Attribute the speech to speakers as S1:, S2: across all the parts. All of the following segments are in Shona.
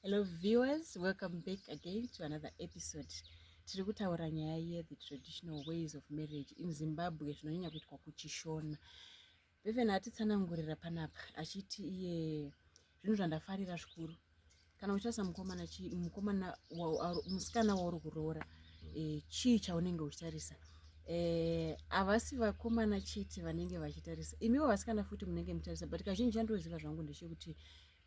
S1: Hello viewers, welcome back again to another episode. Tiri kutaura nyaya ye the traditional ways of marriage in Zimbabwe zvinonyanya kuitwa kuchishona. Beven atitsanangurira panapa achiti iye zvinhu zvandafarira zvikuru kana uchitasa mukomana chi mukomana musikana wauri kuroora e, chii chaunenge uchitarisa e, havasi vakomana chete vanenge vachitarisa imiwo vasikana futi munenge muchitarisa but kazhinji chandinoziva zvangu ndechekuti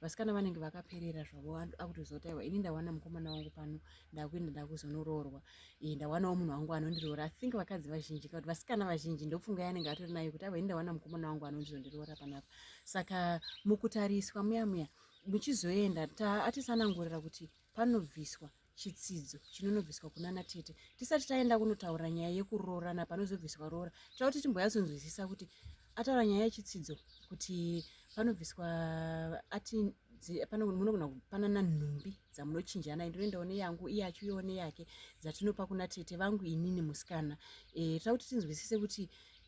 S1: vasikana vanenge vakaperera zvavo akutozoti aiwa ini ndawana mukomana wangu pano ndakuenda ndakuzonoroorwa e, ndawanawo munhu wangu anondiroora i think vakadzi vazhinji kuti vasikana vazhinji ndofunga yanenge atori nayo kuti aiwa ini ndawana mukomana wangu anondizondiroora panapa saka mukutariswa muya muya muchizoenda atisanangurira kuti panobviswa chitsidzo chinonobviswa kunana tete tisati taenda kunotaura nyaya yekuroorana panozobviswa roora tira kuti timboyatsonzwisisa kuti ataura nyaya yechitsidzo kuti panobviswa ati munogona kupanana nhumbi dzamunochinjana ndinoendawo neyangu iye achiuyawo neyake dzatinopa kuna tete vangu inini musikana e, tira kuti tinzwisise kuti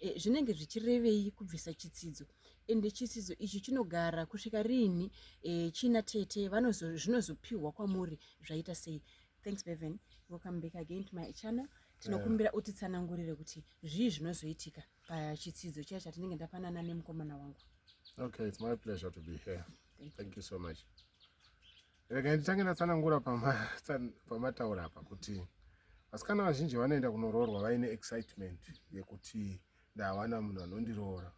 S1: e, zvinenge zvichirevei kubvisa chitsidzo e, ende chisidzo ichi chinogara kusvika riini e, china tete zvinozopihwa kwamuri zvaita sei thanks bevan welcome back again to my channel tinokumbira eh. utitsanangurire kuti zvii zvinozoitika pachitsidzo chiya chatinenge ndapanana nemukomana wangu okay it's my
S2: pleasure to be here thank, thank you so much rega nditange ndatsanangura pamataura apa kuti vasikana vazhinji vanoenda kunoroorwa vaine excitement yekuti ndawana munhu anondiroora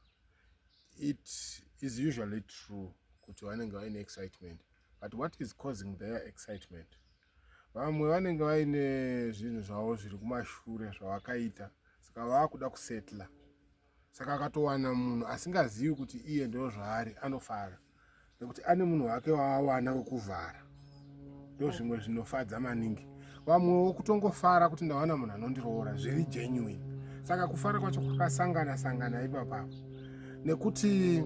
S2: it is usually true kuti vanenge vaine excitement but what is causing their excitement vamwe vanenge vaine zvinhu zvavo zviri kumashure zvavakaita saka vaakuda kusetla saka akatowana munhu asingazivi kuti iye ndozvaari anofara nekuti ane munhu wake waawana wekuvhara ndo zvimwe zvinofadza maningi vamwewo kutongofara kuti ndawana munhu anondiroora zviri genuine saka kufara kwacho kwakasangana sangana ipapapo nekuti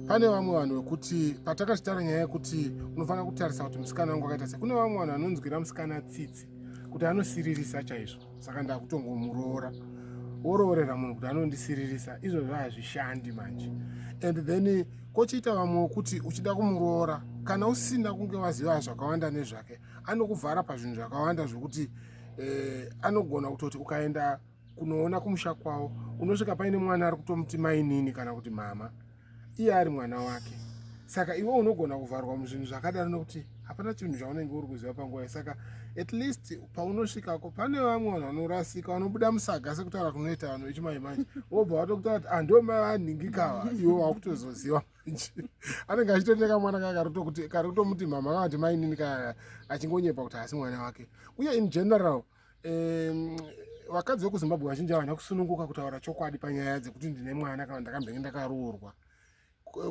S2: pane vamwe vanhu vekuti patakachitaura nyaya yekuti unofanira kutarisa kuti musikana wangu akaita sei kune vamwe vanhu vanonzwira musikana tsitsi kuti anosiririsa chaizvo saka ndakutongomuroora woroorera munhu kuti anondisiririsa izvozvo hazvishandi manje and then kochiita vamwe wokuti uchida kumuroora kana usina kunge waziva zvakawanda nezvake anokuvhara pazvinhu zvakawanda zvokuti eh, anogona kutoti ukaenda kunoona kumusha kwavo unosvika paine mwana ari kutomuti mainini kana kuti mama iye ari mwana wake saka iwe unogona kuvharwa muzvinhu zvakadaro nokuti hapana chinhu chaunenge uri kuziva panguva saka at least paunosvikako pane vamwe vanhu vanorasika vanobuda musaga sekutaura kunoita vanhu vechimanje manje wobva watokutaura kuti ando ah, mai vanhingikava iwe wakutozoziva manje anenge achitondeka mwana kaya karikutomuti mama kavati mainini kaya achingonyepa kuti haasi mwana wake uye in general vakadzi vekuzimbabwe vazhinji havana kusununguka kutaura chokwadi panyaya dzekuti ndine mwana kana ndakambenge ndakaroorwa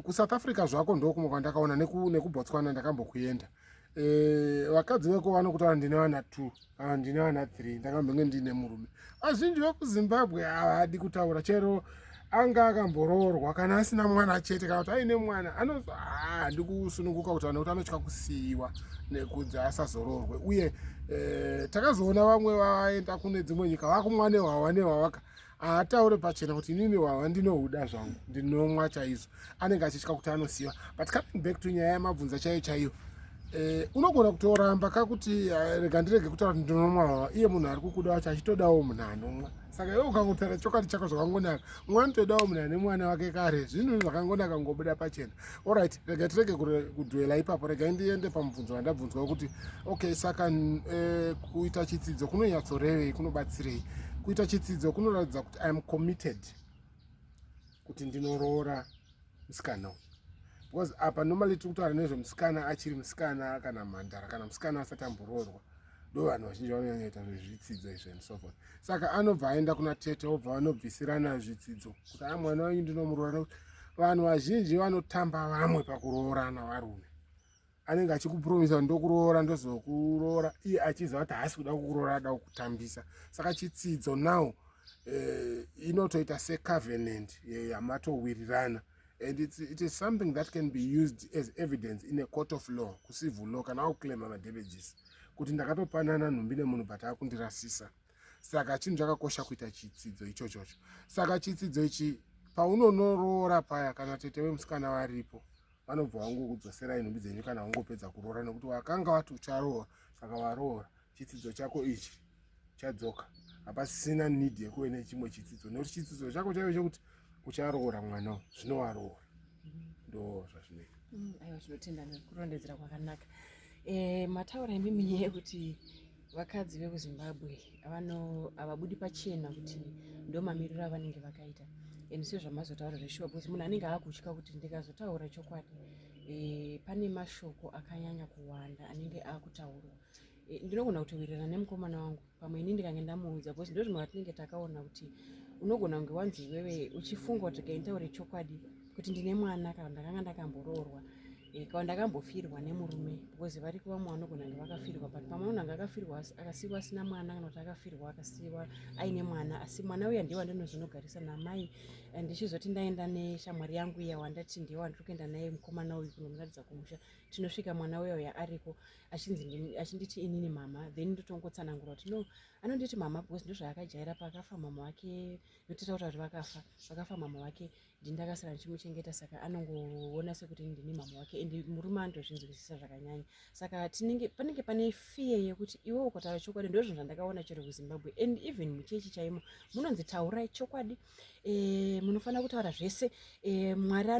S2: kusouth africa zvako ndokumwe kwandakaona nekubotswana ndakambokuenda e, vakadzi veko vanokutaura ndine vana two kana ndine vana three ndakambenge ndiine murume vazhinji vekuzimbabwe havadi kutaura chero anga akamboroorwa kana asina mwana chete kana kuti aine mwana anozo ah, ndikusununguka kuti vanhu kuti anotya kusiyiwa nekunzi asazoroorwe uye eh, takazoona vamwe vaenda kune dzimwe nyika vakumwa nehwawa nehwawaka haataure pachena kuti inini hwawa ndinohuda zvangu ndinomwa chaizvo anenge achitya kuti anosiyiwa but coming back to nyaya yamabvunza chaiyo chaiyo Eh, unogona kutoramba ka kuti eh, rega ndirege kutaura kuti ndinomwa iye munhu ari kukuda wacho achitodawo munhu anomwa saka iwe ukangotaura chokwadi chako zvakangonaka mwa anotodawo munhu ane mwana wake kare zvinhu zvakangonaka ngobuda pachena orit rega tirege kudwela ipapo regai ndiende pamubvunzo wandabvunzwa kuti okay saka eh, kuita chitsidzo kunonyatsorevei kunobatsirei kuita chitsidzo kunoratidza kuti iam committed kuti ndinoroora musikana uyu because apa normally tiri kutaura nezvemusikana achiri musikana kana mhandara kana musikana asati amboroorwa ndo vanhu vazhinji vanonyanyaita zvezvitsidzo izvi and so forth saka anobva aenda kuna tete obva vanobvisirana zvitsidzo kuti a mwana wenyu ndinomuroora nekuti vanhu vazhinji vanotamba vamwe pakuroorana varume anenge achikupromisa ndokuroora ndozokuroora iye achiziva kuti haasi kuda kukuroora ada kukutambisa saka chitsidzo now eh, inotoita secovenant eh, yamatowirirana and it's, it is something that can be used as evidence in a court of law kucivil law kana wakuclaima madamages kuti ndakatopanana nhumbi nemunhu but akundirasisa saka chinhu chakakosha kuita chitsidzo ichochocho saka chitsidzo ichi paunonoroora paya kana tete wemusikana varipo vanobva vangokudzoserai nhumbi dzenyu kana wangopedza kuroora nekuti wakanga wati ucharoora saka waroora chitsidzo chako ichi chadzoka hapasisina need yekuve nechimwe chitsidzo nekuti chitsidzo chako chaive chekuti ucharoora mwana u zvino waroora ndo zvazvinoita mm, aiwa tinotenda
S1: nekurondedzera kwakanaka eh, mataura imimi yekuti vakadzi vekuzimbabwe havabudi pachena kuti ndo mamiriro avanenge vakaita and sezvamazotaura zveshuwa because munhu anenge aakutya kuti ndikazotaura chokwadi e, pane mashoko akanyanya kuwanda anenge akutaurwa e, eh, ndinogona kutowirirana nemukomana wangu pamwe ini ndikange ndamuudza because ndo zvimwe vatinenge takaona kuti unogona kunge wanzi iwewe uchifunga kuti kaintaure chokwadi kuti ndine mwana kana ndakanga ndakamboroorwa Ikawa ndakambofirwa nemurume because vari kuva mwana unogona kunge vakafirwa but pamwe unhu anga akafirwa akasiiwa asina mwana kana kuti akafirwa akasiiwa aine mwana asi mwana uya ndiye wandinozonogarisa namai eh, ndichizoti ndaenda neshamwari yangu iya wandati ndiye wandiri kuenda naye mukomana uyu kunomuratidza kumusha tinosvika mwana uya uya ariko achinzi achinditi inini mama then ndotongotsanangura kuti no anonditi mama because ndozvaakajaira paakafa mama wake ndototaura kuti vakafa vakafa mama wake ndindakasara ndichimuchengeta saka anongoona sekuti ndini mama wake and murume anotozvinzwisisa zvakanyanya saka tinenge panenge pane fear yekuti iwe ukataura chokwadi ndozvinhu zvandakaona chero kuzimbabwe and even muchechi chaimo munonzi taurai chokwadi e, munofanira kutaura zvese e, mwari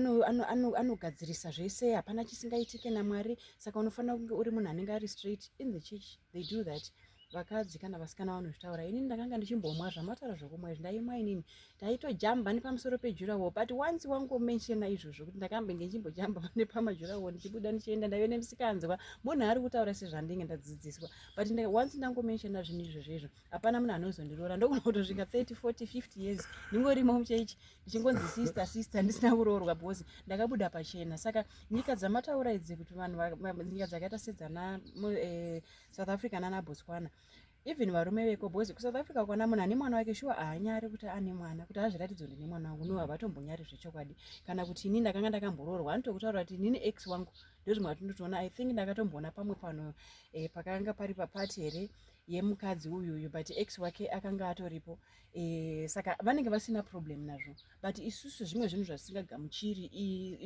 S1: anogadzirisa zvese hapana chisingaitike namwari saka unofanira kunge uri munhu anenge ari straight in the church they do that vakadzi kana vasikana vanozvitaura ini ndakanga ndichimbomwa zvamataura zvokumwa izvi ndaimwa inini ndaitojamba nepamusoro pejurawo but once wangomenshena izvozvo kuti ndakambe ngenjimbojamba nepamajurawo ndichibuda ndichienda ndaive nemisikanzwa munhu ari kutaura sezvandinge ndadzidziswa but once ndangomenshena zvinhu izvozvo izvo hapana munhu anozondiroora ndogona kutosvika 30 40 50 years ndingorimo muchechi ndichingonzi sister sister ndisina kuroorwa because ndakabuda pachena saka nyika dzamataura idzi kuti vanhu nyika dzakaita sedzana eh, south africa nana botswana even varume veko because kusouth africa kwana munhu ane mwana wake shuwa haanyari kuti ane mwana kuti azviratidzo ndine mwana wangu no havatombonyari zvechokwadi kana kuti ini ndakanga ndakamboroorwa anotokutaura kuti inini ex wangu ndozvimwe atindotoona i think ndakatomboona pamwe pano eh, pakanga pari papati here yemukadzi uyu uyu but ex wake akanga atoripo e, saka vanenge vasina problem nazvo but isusu zvimwe zvinhu zvasingagamuchiri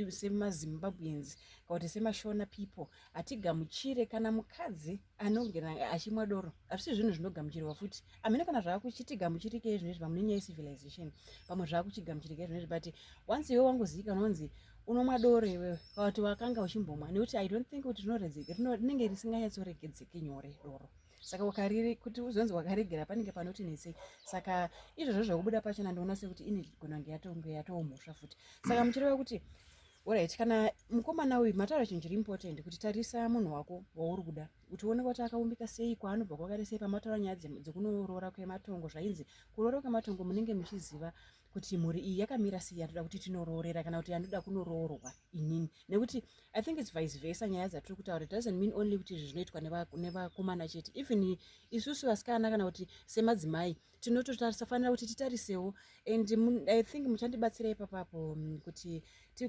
S1: semazimbabweans kana kuti semashona people hatigamuchire kana mukadzi anongena achimwa doro hazvisi zvinhu zvinogamuchirwa futi amene kana zvaakuchitigamuchirike izvinezvi pamune nyaya yecivilization pamwe zvaakuchigamuchirike izvinezvi but once iwe wangoziyika unonzi unomwa doro iwewe kuti wakanga uchimbomwa nekuti i don't think kuti rinenge risinganyatsoregedzeki nyore doro saka wakariri kuti uzonzi wakaregera panenge panoti netsei saka izvozvo zvekubuda pachona ndinoona sekuti ini gona kunge yatonge yatoo mhosva futi saka muchireva kuti orit kana mukomana uyu mataura chinhu chiri important kuti tarisa munhu wako wauri kuda kuti uone kuti akaumbika sei kwaanobva kwakare sei pamataura nyaya dzekunorora kwematongo zvainzi kurora kwematongo munenge muchiziva kuti mhuri iyi yakamira sei yandoda kuti tinoroorera kana kuti yandoda kunoroorwa inini nekuti i think its vice versa nyaya dzatiri kutaura doesn't mean only kuti izvi zvinoitwa nevakomana chete even isusu vasikana kana kuti semadzimai tinotofanira kuti titarisewo and i think muchandibatsira ipapapo mm, kuti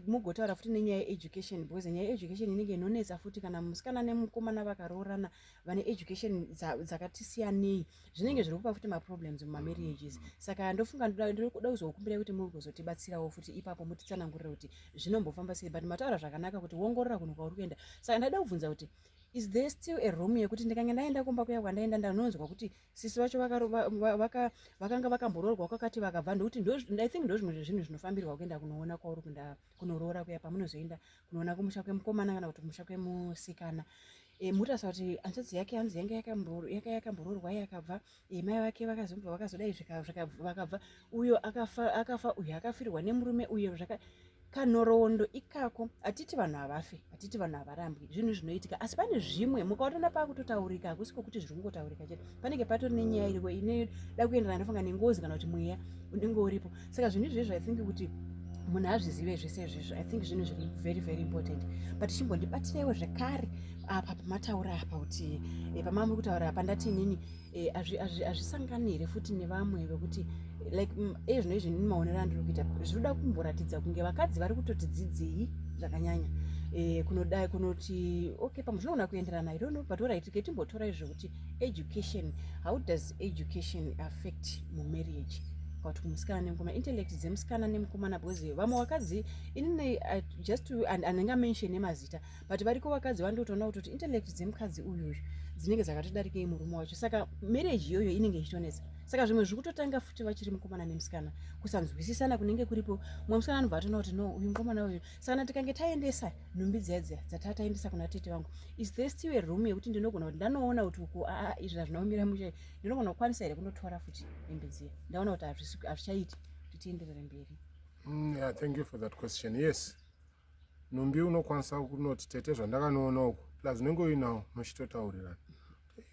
S1: mugotaura futi nenyaya yeeducation because nyaya yeeducation inenge inonetsa futi kana musikana nemukomana vakaroorana vane education dzakati siyanei zvinenge zviri kupa futi maproblems mumamarriages saka ndofunga ndoda kuzokumbira kuti muri kuzotibatsirawo futi ipapo mutitsanangurira kuti zvinombofamba sei but mataura zvakanaka kuti wongorora kunhu kwauri kuenda saka ndaida kubvunza kuti is there still a room yekuti ndikange ndaenda kumba kuya kwandaenda ndanonzwa kuti sisi vacho vakanga vakamboroorwa kwakati vakabva ndokuti i think ndozvimwe zvezvinhu zvinofambirwa kuenda kunoona kwauri kuenda kunoroora kuya pamunozoenda kunoona kumusha kwemukomana kana kuti kumusha kwemusikana e, eh, mutarisa kuti ansatsi yake hanzi yanga yaka yakamboroorwa ye yakabva e, mai vake vakazobva vakazodai vakabva uyo akafa akafa uyo akafirwa nemurume uyo zvaka kanhoroondo ikako hatiti vanhu havafe hatiti vanhu havarambwi zvinhu zvinoitika asi pane zvimwe mukaonana pakutotaurika hakusi kokuti zviri kungotaurika chete panenge patori nenyaya iriko inoda kuenderana ndofunga nengozi kana kuti mweya unenge uripo saka zvinhu izvezvo ithink kuti munhu azvizive zvese izvezvo i think zvinhu zviri very very important but chimbondibatiraiwo zvekare apa pamataura apa kuti eh, pamamuri kutaura apa ndati inini Eh, hazvisangani here futi nevamwe vekuti like mm, ezvino izvi ini maonero andiri kuita zvinoda kumboratidza kunge vakadzi vari kutoti dzidzei zvakanyanya eh, kunodai kunoti okay pamwe zvinoona kuenderana i donno but orit ke timbotora izvekuti education how does education affect mumarriage kuti kumusikana nemukoma intellect dzemusikana nemukomana because vamwe vakadzi inini just anenge amention emazita but variko vakadzi vandotoona kuti kuti intellect dzemukadzi uyu uyu dzinenge dzakatodarikei murume wacho saka marriage iyoyo inenge ichitonetsa saka zvimwe zviri kutotanga futi vachiri mukomana nemusikana kusanzwisisana kunenge kuripo mumwe musikana anobva atoona kuti no uyu mukomana uyu sakana tikange taendesa nhumbi dziya dziya dzataa taendesa kuna tete vangu is the still a room yekuti ndinogona kuti ndanoona kuti uku aa izvi hazvinaumira mushe ndinogona kukwanisa here kunotora futi hembe dziya ndaona kuti hazvichaiti kuti tienderere mberi mm, yeah, thank
S2: you for that question yes nhumbi unokwanisa kunoti tete zvandakanoona uku plus unenge uinawo muchitotaurirana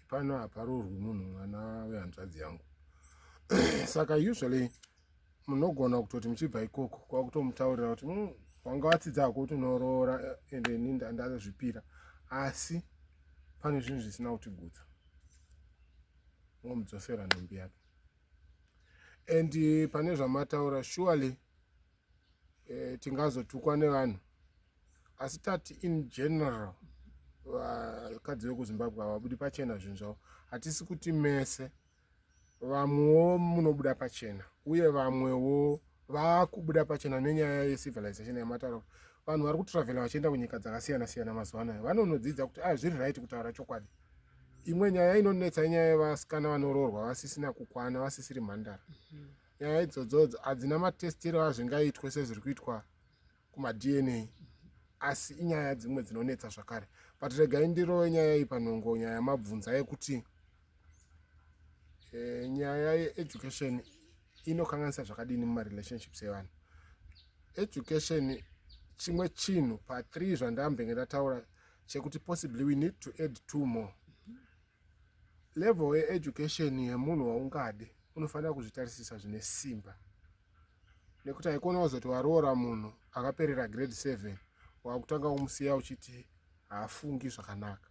S2: pano haparurwi munhu mwana wehanzvadzi yangu saka usually munogona kutoti muchibva ikoko kwakutomutaurira kuti hmm, wanga watsidza hako kuti unoroora eh, ende ini ndazvipira asi pane zvinhu zvisina kutigutsa womudzosera nhumbi yake and eh, pane zvamataura surely eh, tingazotukwa nevanhu asi tati in general vakadzi vekuzimbabwe havabudi pachena zvinhu zvavo hatisi kuti mese vamwewo munobuda pachena uye vamwewo vakubuda pachena nenyaya yecivilization yamataura kuti vanhu vari kutravela vachienda kunyika dzakasiyana siyana mazuva anayo vanonodzidza kuti a zviri right kutaura chokwadi imwe nyaya inonetsa inyaya yevasikana vanoroorwa vasisina kukwana vasisiri mhandara mm -hmm. nyaya idzodzodzo hadzina matestiro azvingaitwe sezviri kuitwa kumadna asi inyaya dzimwe dzinonetsa zvakare but regai ndirowe nyaya iyi panhongo nyaya yamabvunza yekuti eh, nyaya yeeducation inokanganisa zvakadini mumarelationships evanhu education chimwe chinhu pathree zvandambenge ndataura chekuti possibly we need to add two more Level ye education yemunhu waungade unofanira kuzvitarisisa zvine simba nekuti haikona kuzoti waroora munhu akaperera grade 7 wakutanga kumusiya uchiti haafungi zvakanaka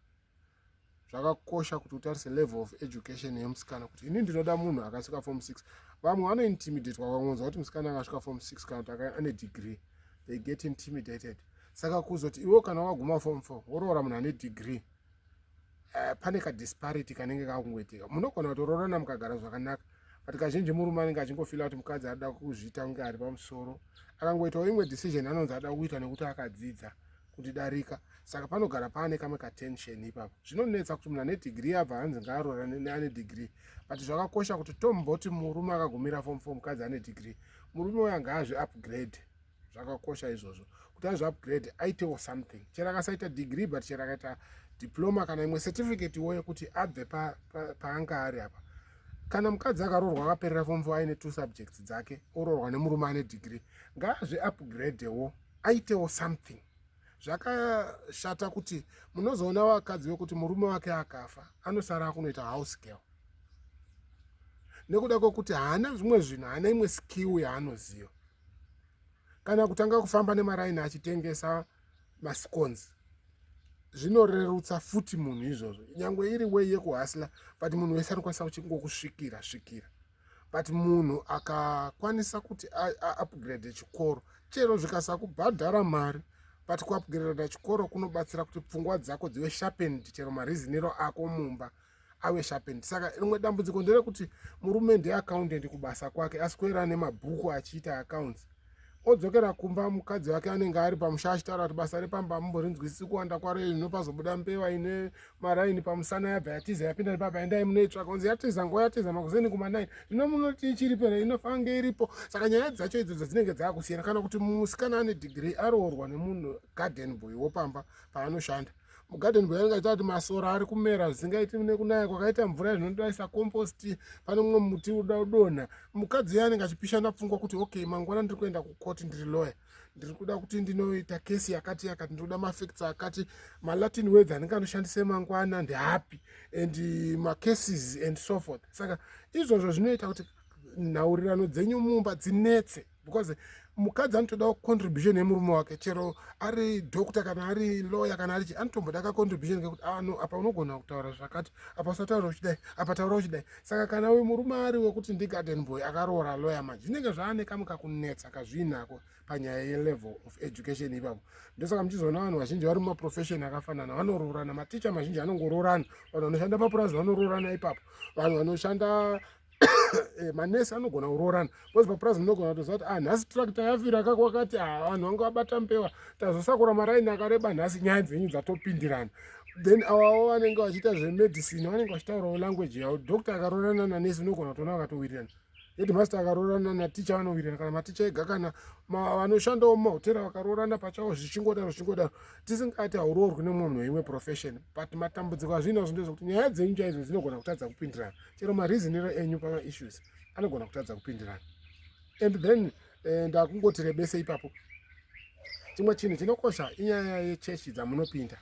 S2: zvakakosha kuti utarise level of education yemusikana kuti ini ndinoda munhu akasvika form 6 vamwe vanointimidate wakangonzwa kuti musikana akasvika form 6 kana kuti ane degree they get intimidated saka kuzoti iwo kana wakaguma form 4 woroora munhu ane degree uh, pane kadisparity kanenge kakungoitika munogona kutoroorana mukagara zvakanaka but kazhinji murume anenge achingofila kuti mukadzi anoda kuzviita kunge ari pamusoro akangoitawo imwe decision anonzi ada kuita nekuti akadzidza kundidarika saka panogara paane kamwe katension ipapo zvinonetsa kuti munhu ane dhigiri abva hanzi ngaaroorane neane dhigiri but zvakakosha kuti tomboti murume akagumira fom fo mukadzi ane dhigiri murume uyo angaazvi upgrade zvakakosha izvozvo kuti aizvi upgrade aitewo something chero akasaita degree but chero akaita diploma kana imwe certificate wo yekuti abve paanga ari apa kana mukadzi akaroorwa akaperera fomfo aine two subjects dzake oroorwa nemurume ane degree ngaazvi upgrade wo aitewo something zvakashata kuti munozoona vakadzi vekuti murume wake akafa anosara akunoita house girl nekuda kwekuti haana zvimwe zvinhu haana imwe skill yaanoziva kana kutanga kufamba nemaraini achitengesa mascones zvinorerutsa futi munhu izvozvo nyange iri wei yekuhasla but munhu wese anokwanisa kuchingokusvikira svikira but munhu akakwanisa kuti aupgrade chikoro chero zvikasakubhadhara mari but kuupgrada chikoro kunobatsira kuti pfungwa dzako dzive sharpened chero mariziniro ako mumba ave sharpened saka rimwe dambudziko nderekuti murume ndeaccountant kubasa kwake aswera nemabhuku achiita accounts odzokera kumba mukadzi wake anenge ari pamusha achitaura kuti basa repamba amumborinzwisisi kuwanda kwaro iri nopazobuda mbewa ine maraini pamusana yabva yatiza yapinda nepapa endai munoitsvaka unzi yatiza nguva yatiza makuzeni kumanaini zvino munoti ichiripera inofange iripo saka nyaya dzacho idzo dzadzinenge dzaakusiyana kana kuti musikana ane dhigiri aroorwa nemunhu garden boy wopamba paanoshanda mugadeni bwayo ingaita kuti masora ari kumera zvisingaiti nekunaya kwakaita mvura izvinodaisa compost pane mumwe muti uda udonha mukadzi yanenge achipishana pfungwa kuti okay mangwana ndiri kuenda kukoti ndiri loya ndiri kuda kuti ndinoita kesi yakati yakati ndinoda mafacts akati malatin words anenge anoshandise mangwana ndihappy and macases and so forth saka izvozvo zvinoita kuti nhaurirano dzenyu mumba dzinetse because mukadzi anotodawo contribution yemurume wake chero ari doctor kana ari lawyer kana ari chi anotomboda ka contribution kekuti ah no apa unogona kutaura zvakati apa usataura uchidai apa taura uchidai saka kana uyu murume ari wekuti ndigarden boy akaroora lawyer manje zvinenge zvaane kamwe kakunetsa kazviinako panyaya yelevel of education ipapo ndosaka muchizoona vanhu vazhinji vari mumaprofession akafanana vanoroorana maticha mazhinji anongoroorana vanhu vanoshanda mapurazi vanoroorana ipapo vanhu vanoshanda eh, manesi anogona kuroorana bcause papurazi munogona kutoziva kuti ah, nhasi tractor yafira kako wakati ah, vanhu vanga vabata mpewa tazosakura maraini akareba nhasi nyaya dzenyu dzatopindirana then avawo vanenge vachiita zvemedicine vanenge vachitaurawo language yavo doctor akaroorana nanesi unogona kutoona vakatowirirana headmaster akaroorana naticha vanowirirana kana maticha ega kana vanoshandawo mumahotera vakaroorana pachavo zvichingodaro zvichingodaro tisingati hauroorwi nemumwe munhu weimwe profession but matambudziko azviinazvo ndezvekuti nyaya dzenyu chaidzo dzinogona kutadza kupindirana chero mareasoniro enyu pamaissues anogona kutadza kupindirana and then eh, ndakungoti rebese ipapo chimwe chinhu chinokosha inyaya yechechi dzamunopinda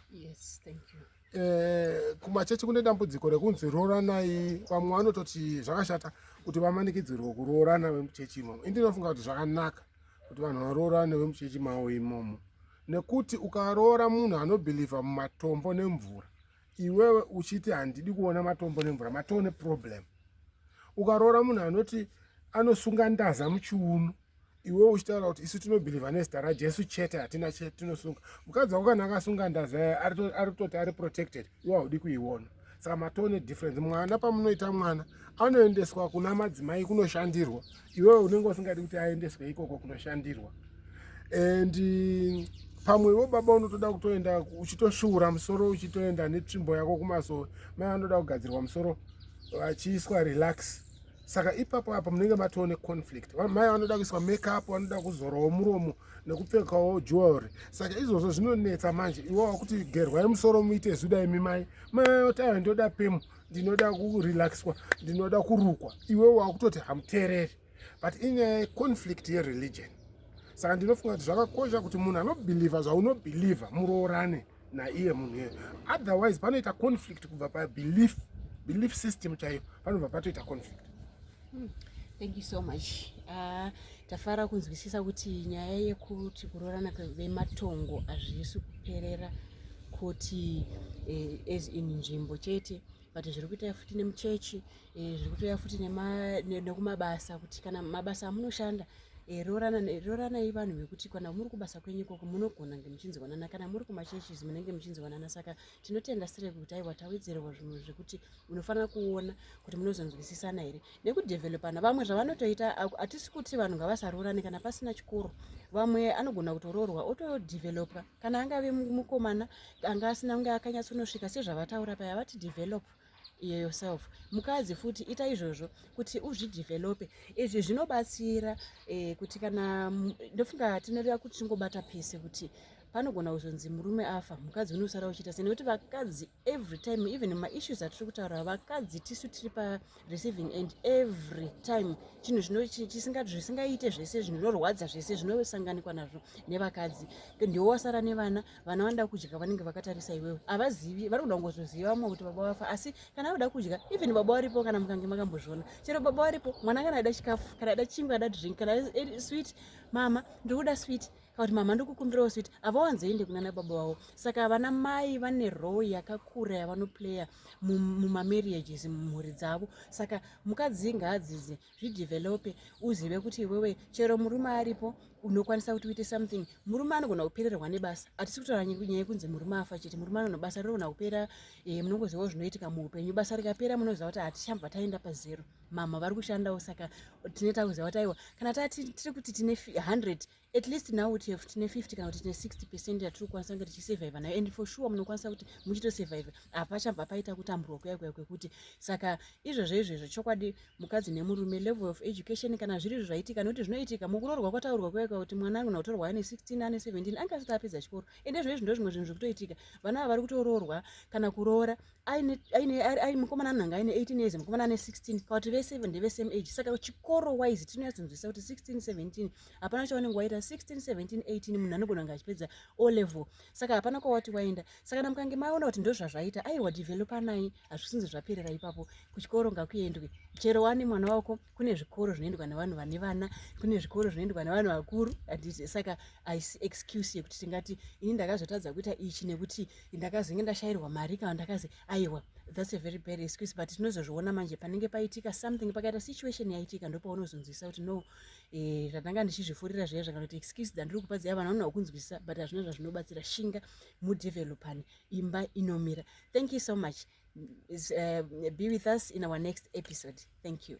S1: eh,
S2: kumachechi kune dambudziko rekunzi rooranai vamwe vanototi zvakashata kuti vamanikidzirwe kuroorana vemuchechi imomo indinofunga kuti zvakanaka kuti vanhu varoorane vemuchechi mavo imomo nekuti ukaroora munhu anobhilivha mumatombo nemvura iwewe uchiti handidi kuona matombo nemvura matoo neproblem ukaroora munhu anoti anosunga ndaza muchiuno iwewe uchitaura kuti isu tinobhilivha nezita rajesu chete hatina chete tinosunga mukadzi wako kana akasunga ndaza yaye ari kutoti ari protected iwe haudi kuiona saka matone difference mwana pamunoita mwana anoendeswa kuna madzimai kunoshandirwa iwewe unenge usingadi kuti aendeswe ikoko kunoshandirwa and eh, pamwewo baba unotoda kutoenda uchitosvuura musoro uchitoenda netsvimbo yako kumasowe mai vanoda kugadzirwa musoro vachiiswa relax saka ipapo apa munenge matoo neconflict mai vanoda kuiswa makeup vanoda kuzorawo muromo nekupfekawo jewelry saka izvozvo zvinonetsa manje iwo wakuti gerwai musoro muite zuda imi mai mai oti ayo ndoda pemu ndinoda kurelaxwa ndinoda kurukwa iwe wakutoti hamuteereri but in a conflict yereligion saka ndinofunga kuti zvakakosha kuti munhu anobhilivha zvaunobhilivha muroorane naiye munhu iye otherwise panoita conflict kubva pabelief belief system chaiyo panobva patoita conflict Hmm.
S1: Thank you so much. Uh, tafara kunzwisisa kuti nyaya yekuti kuroorana vematongo hazvisi kuperera kuti eh, as in nzvimbo chete but zviri kuita futi nemuchechi eh, zviri kutoya futi nekumabasa kuti kana mabasa amunoshanda eh, rooranai vanhu vekuti kana muri kubasa kwenyu ikoko munogona nge muchinzwanana kana muri kumachurches munenge muchinzwanana saka tinotenda sire kuti aiwa tawedzerwa zvinhu zvekuti munofanira kuona kuti munozonzwisisana here nekudevelopana vamwe zvavanotoita hatisi kuti vanhu ngavasaroorane kana pasina chikoro vamwe anogona kutoroorwa otodevelopwa kana angave mukomana anga asina kunge akanyatsonosvika sezvavataura paya vati developa iye yourself mukadzi futi ita izvozvo kuti uzvidevelope izvi zvinobatsira eh, kuti kana ndofunga tinoreva kuti tingobata pese kuti panogona kuzonzi murume afa mukadzi unosara uchiita sei nekuti vakadzi every time even maissues atiri kutaura vakadzi tisu tiri pareceiving end every time chinhu zvisingaite zvese zvinorwadza zvese zvinosanganikwa nazvo nevakadzi ndiwo wasara nevana vana vanoda kudya vanenge vakatarisa iwewe havazivi vari kuda kungozoziva vamwe kuti baba vafa asi kana vada kudya even baba varipo kana mukange makambozviona chero baba varipo mwana kana ada chikafu kana ada chingwa ada drink kana swit mama ndikuda swit kana kuti mama ndikukumbirawo swit havawanzoende kunana baba vavo saka vana mai vane row yakakura yavanoplaya mumamarriages mumhuri dzavo saka mukadzi ngaadzidze zvidevelope uzive kuti iwewe chero murume aripo unokwanisa kuti uite something murume anogona kupererwa nebasa hatisi kutaura nyaya yekunzi murume afa chete murume anono basa rinogona kupera e, eh, munongozivawo zvinoitika muupenyu basa rikapera munoziva kuti hatichambva taenda pazero mama vari kushandawo saka tine takuziva kuti aiwa kana tati tiri kuti tine hundred at least now kuti have tine 50 kana kuti tine 60 percent yatiri kukwanisa kunge tichisurviva nayo and for sure munokwanisa kuti muchitosurviva hapachabva paita kutamburwa kuya kuya kwekuti saka izvozvo izvozvo chokwadi mukadzi nemurume level of education kana zviri izvo zvaitika nekuti zvinoitika mukuroorwa kwataurwa kuya kuya kuti mwana anogona kutorwa ane 16 ane 17 ange asati apedza chikoro ende izvo izvi ndo zvimwe zvinhu zvikutoitika vana ava vari kutoroorwa kana kuroora mukomana anonanga aine 18 years mukomana ane 16 kana kuti vese ndevesame age saka chikoro wise tinoyatsinzwisa kuti 16 17 hapana chaunenge waita 161718 munhu anogona kunge achipedza o level saka hapana kwawati waenda saka kana mukange maona kuti ndozvazvaita aiwa developanai hazvisinzi zvaperera ipapo kuchikoro ngakuendwe chero wani mwana wako kune zvikoro zvinoendwa nevanhu vane vana kune zvikoro zvinoendwa nevanhu vakuru anditi saka aisi excuse yekuti tingati ini ndakazotadza kuita ichi nekuti ndakazenge ndashayirwa mari kana ndakazi aiwa that's a very bad excuse but tinozozviona manje panenge paitika something pakaita situation yaitika ndopaunozonzwisa kuti no Eh, tatanga ndichizvifurira zviya zvakanoti excuse dzandiri kupa dziya vana vanoda kunzwisisa but hazvina zvazvinobatsira shinga mudevelopani imba inomira thank you so much uh, be with us in our next episode thank you